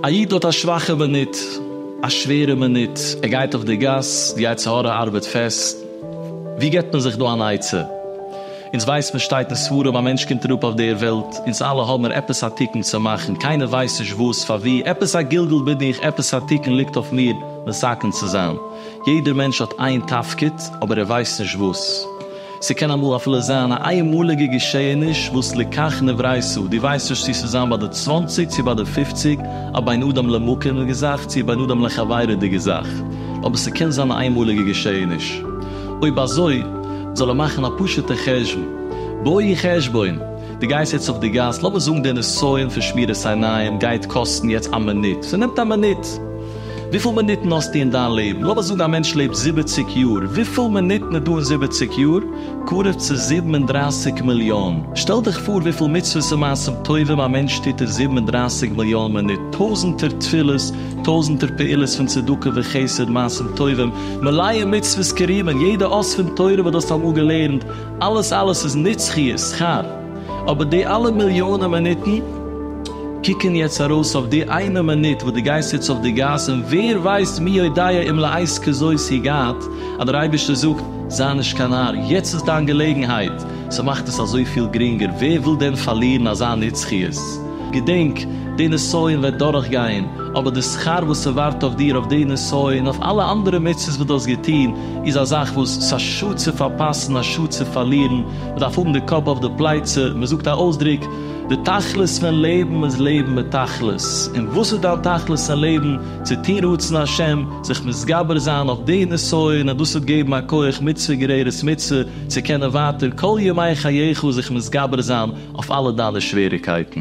א איד האט א שוואכע מינוט, א שווערע מינוט, ער גייט אויף די גאס, די יצר הרע ארבעט פעסט, ווי געבט מען זיך דא אן עצה? אונז ווייסט מען שטייט אין ספרים א מענטש קומט אראפ אויף דער וועלט, אונז אלע האבן ער עפעס א תיקון צו מאכן, קיינער ווייסט נישט וואס, פארווי, עפעס א גלגול בין איך, עפעס א תיקון ליגט אויף מיר מסכם צו זיין. יעדער מענטש האט איין תפקיד, אבער ער ווייסט נישט וואס. ס'קען אמאל אפילו זיין א איינמאליגע געשעהעניש וואס לקח נברייתו, דו ווייסט נישט צו ס'איז זיין ביי די צוואנציג צו ביי די פופציג, א בין אדם למקום'דיגע זאך צו א בין אדם לחברי'דיגע זאך, אבער ס'קען זיין א איינמאליגע געשעהעניש. אויב אזוי, זאל ער מאכן א פשוט'ע חשבון. בואי חשבון! די גייסט יעצט אויף די גאס, לאמיר זאגן די נסיון פון שמירת עיניים גייט קאסטן יעצט א מינוט, ס'נעמט א מינוט, וויפיל מינוטן האסטו אין דיין לעבן? לאמיר זאגן א מענטש לעבט זיבעציק יאר, וויפיל מינוטן איז דא אין זיבעציק יאר? קרוב צו זיבן און דרייסיג מיליאן. שטעל דיך פאר וויפיל מצוות און מעשים טובים א מענטש טוט אין זיבן און דרייסיג מיליאן מינוט, טויזנטער תפילות, טויזנטער פעולות פון צדקה וחסד, מעשים טובים, מלא מצוות כרימון, יעדע אות פון תורה וואס דו האסט אמאל געלערנט, אלעס אלעס איז נצחיות שכר, אבער די אלע מיליאנען מינוטן קוקן יעצט ארויס אויף די איינע מינוט וואס דו גייסט יעצט אויף די גאס און ווער ווייסט מי יודע אם לעת כזאת הגעת, אז דער אייבערשטער זאגט, זיי נישט קיין נאר, יעצט איז דיין געלעגנהייט, ס'מאכט עס אזויפיל גרינגער, ווער וויל דען פארלירן אזא נצחיות? געדענק, די נסיון וועט דורכגיין, אבער די שכר וואס ס'ווארט אויף דיר אויף די נסיון, אויף אלע אנדערע מצוות וואס דו האסט געטון, איז א זאך וואס ס'איז א שאד צו פארפאסן, א שאד צו פארלירן, מ'דארף האבן די קאפ אויף די פלייצע, מ'זאגט א אויסדרוק, די תכלית פון לעבן איז לעבן מיט תכלית, און וואס איז דיין תכלית אין לעבן? צו טון רצון השם, זיך מתגבר זיין אויף די נסיון און דאס וועט געבן א כח מצוה גוררת מצוה צו קענען ווייטער כל ימי חייך זיך מתגבר זיין אויף אלע דיינע שוועריקייטן.